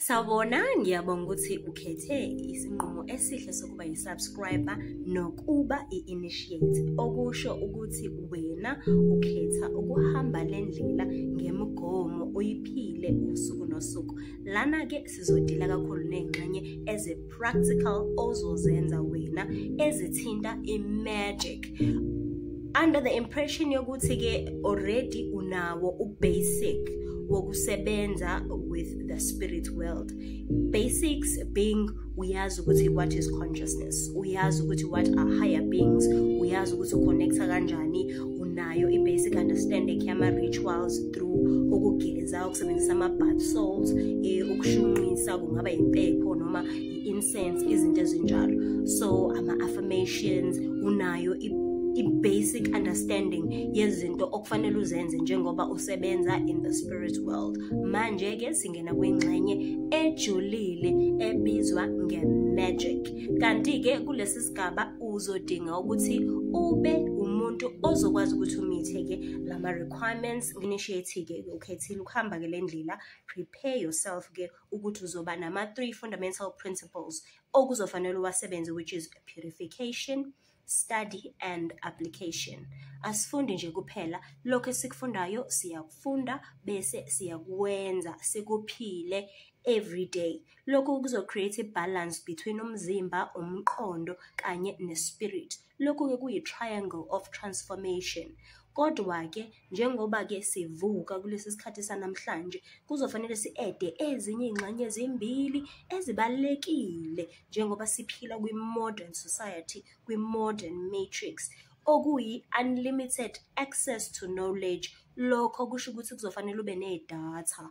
Sawubona, ngiyabonga ukuthi ukhethe isinqumo esihle sokuba yi-subscriber nokuba i-initiate, okusho ukuthi wena ukhetha ukuhamba le ndlela ngemigomo uyiphile usuku nosuku. Lana-ke sizodila kakhulu ney'ngxenye eze practical ozozenza wena ezithinta i-magic under the impression yokuthi-ke already unawo u-basic wokusebenza with the spirit world basics being uyazi ukuthi what is consciousness uyazi ukuthi what are higher beings uyazi ukuthi uconnecta kanjani unayo i-basic understanding yama-rituals through ukugeza ukusebenzisa ama-bath salt um eh, ukushunqisa kungaba yimpepho noma i-incense izinto ezinjalo so ama-affirmations unayo i-basic understanding yezinto okufanele uzenze njengoba usebenza in the spirit world manje-ke singena kwingxenye ejulile ebizwa nge-magic kanti-ke kulesi sigaba uzodinga ukuthi ube umuntu ozokwazi ukuthi umithe-ke lama-requirements initiate-ke ukhethile ukuhamba-ke le ndlela prepare yourself-ke ukuthi uzoba nama-three fundamental principles okuzofanele uwasebenze which is purification study and application asifundi nje kuphela lokho esikufundayo siyakufunda bese siyakwenza sikuphile every day Lokhu kuzo-create i-balance between umzimba, umqondo kanye ne-spirit. Lokhu-ke kuyi-triangle of transformation. Kodwa-ke njengoba-ke sivuka kulesi sikhathi sanamhlanje, kuzofanele si-ede ezinye iy'ngxenye ezimbili ezibalulekile njengoba siphila kwi-modern society, kwi-modern matrix okuyi-unlimited access to knowledge. Lokho kusho ukuthi kuzofanele ube nedatha.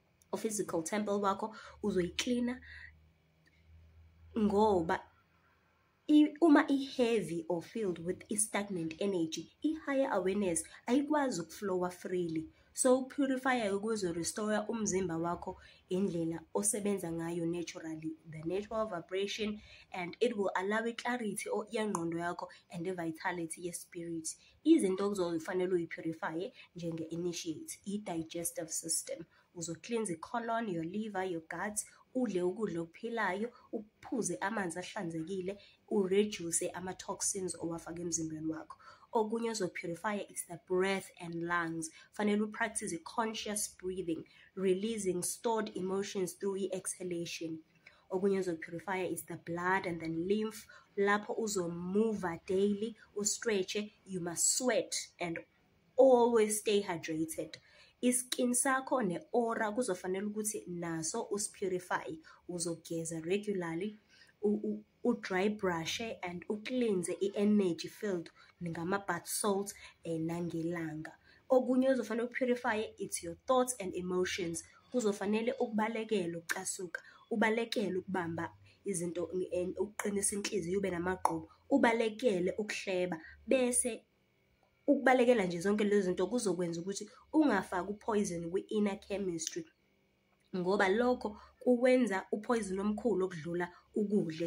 u-physical temple wakho uzoyiklina ngoba uma i-heavy or filled with i-stagnant energy i-higher awareness ayikwazi ukuflowa freely so ukupurifayayo kuzo-restore umzimba wakho indlela osebenza ngayo naturally the natural vibration and it will allow i-clarity yengqondo yakho and i-vitality ye-spirit izinto okuzofanele uyi-purifye njenge-initiate i-digestive system uzohlinza i-colon your liver your gut udle ukudla okuphilayo uphuze amanzi ahlanzekile ureduce ama-toxins owafaka emzimbeni wakho okunye ozophurifya is the breath and lungs fanele upractice i-conscious breathing releasing stored emotions through i-exhalation okunye ozoyi-purifya is the blood and then lymph lapho uzomuva daily ustretche you must sweat and always stay hydrated iskin sakho ne-ora kuzofanele ukuthi naso usipurify uzogeza regularly u-dry brushe and u-cleanse i-energy field ngama-bath salt um nangelanga okunye ozofanele uku-purifye it's your thoughts and emotions kuzofanele ukubalekela ukucasuka ubalekele ukubamba izinto ukuqinisa inhliziyo ube namagqubu ubalekele ukuhleba bese ukubalekela nje zonke lezi zinto kuzokwenza ukuthi ungafaki uphoyizeni kwi-inner chemistry ngoba lokho kuwenza uphoyizini omkhulu okudlula ukudla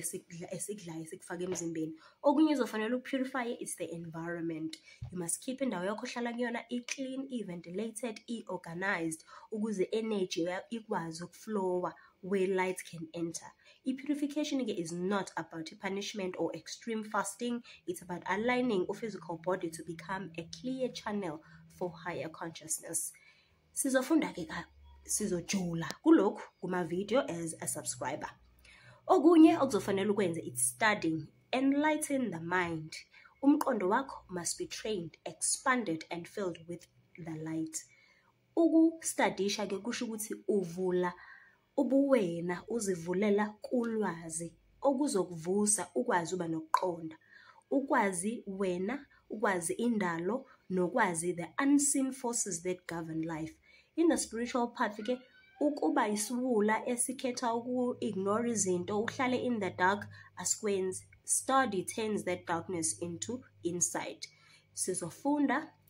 esikudlayo esikufaka emzimbeni okunye izofanele uku-purify is the environment you must keep indawo yakho ohlala kuyona i-clean i-ventilated i-organized ukuze energy ikwazi ukuflowa where light can enter i-purification ke is not about i-punishment or extreme fasting it's about aligning u-physical body to become a clear channel for higher consciousness Sizofunda-ke ka sizojula kulokhu kuma-video as a subscriber. Okunye okuzofanele ukwenze it's studying, enlighten the mind. Umqondo wakho must be trained, expanded and filled with the light. Ukustadisha-ke kusho ukuthi uvula Ubuwena uzivulela kulwazi okuzokuvusa ukwazi uba nokuqonda. Ukwazi wena, ukwazi indalo, nokwazi the unseen forces that govern life. In the spiritual path ke ukuba isiwula esikhetha uku-ignore izinto uhlale in the dark asikwenzi. Study turns that darkness into insight. Sizofunda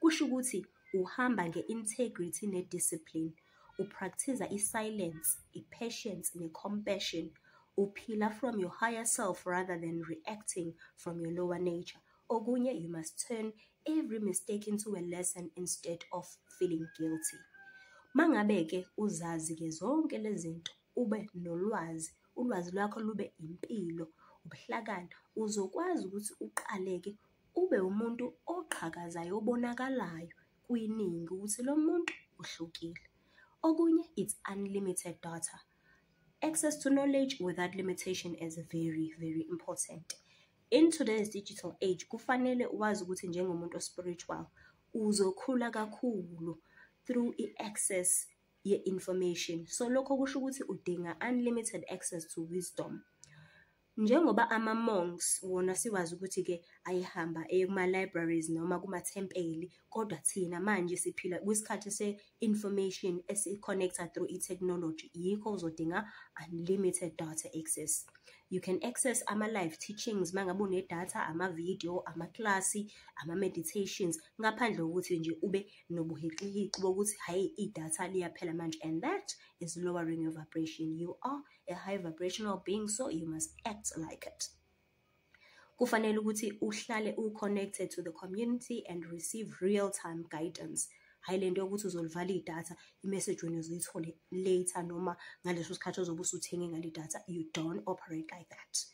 Kusho ukuthi uhamba nge-integrity ne-discipline, uprakthiza i-silence, i-patience ne-compassion, uphila from your higher self rather than reacting from your lower nature. Okunye you must turn every mistake into a lesson instead of feeling guilty. Mangabe-ke uzazi-ke zonke lezi zinto ube nolwazi, ulwazi lwakho lube impilo, ubuhlakani, uzokwazi ukuthi uqale-ke ube umuntu oqhakazayo obonakalayo kwiningi ukuthi lo muntu uhlukile. Okunye it's unlimited data. Access to knowledge without limitation is very very important. In today's digital age kufanele wazi ukuthi njengomuntu ospiritual uzokhula kakhulu through i-access ye-information. So lokho kusho ukuthi udinga unlimited access to wisdom. Njengoba ama-monks wona siwazi ukuthi-ke ayehamba eye kuma-libraries noma kumathempeli, kodwa thina manje siphila kwisikhathi se-information esi-connect-a through i-technology, yikho uzodinga unlimited data access. You can access ama-live teachings uma ngabe unedatha, ama-video, amaklasi, ama-meditations, ngaphandle kokuthi nje ube nobuhixihixi bokuthi hhayi idatha liyaphela manje and that is lowering your vibration. You are a high vibrational being so you must act like it kufanele ukuthi uhlale u-connected to the community and receive real time guidance hhayi le nto yokuthi uzolivala idatha imessage wena uzoyithole later noma ngaleso sikhathi ozobe usuthenge ngale datha you don't operate like that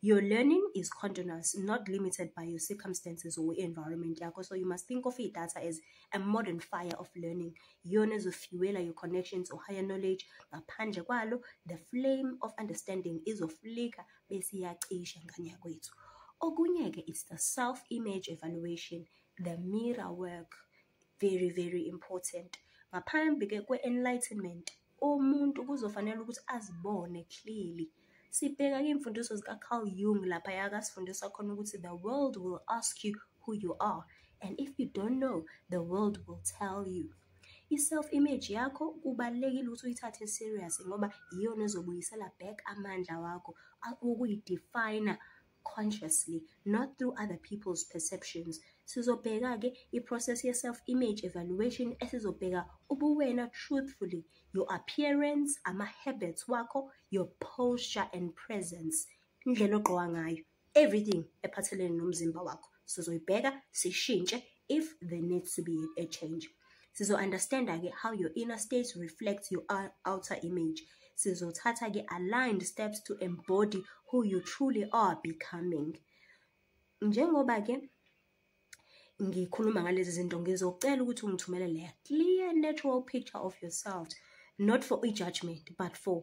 your learning is continuous not limited by your circumstances or environment yakho so you must think of idatha as a modern fire of learning iyona ezofuela your connections or higher knowledge ngaphandle kwalo the flame of understanding izoflika bese iyacisha ngane yakwethu okunye-ke it's the self image evaluation the mirror work very very important ngaphambi-ke kwe-enlightenment Umuntu kuzofanele ukuthi azibone clearly. Sibheka iy'mfundiso zika-Carl Jung lapha yakasifundisa khona ukuthi the world will ask you who you are and if you don't know the world will tell you. I-self image yakho kubalulekile ukuthi uyithathe serious ngoba iyona ezobuyisela back amandla wakho ukuyidefine consciously not through other people's perceptions sizobheka-ke i-process ye-self-image evaluation esizobheka ubuwena truthfully your appearance ama-habits wakho your posture and presence indlela ogqoka ngayo everything ephathelene nomzimba wakho sizoyibheka sishintshe if there needs to be a change sizo-understanda-ke how your inner state reflects your outer image sizothatha-ke aligned steps to embody who you truly are becoming njengoba-ke ngikhuluma ngalezi zinto ngizocela ukuthi ungithumelele a clear natural picture of yourself not for i-judgment but for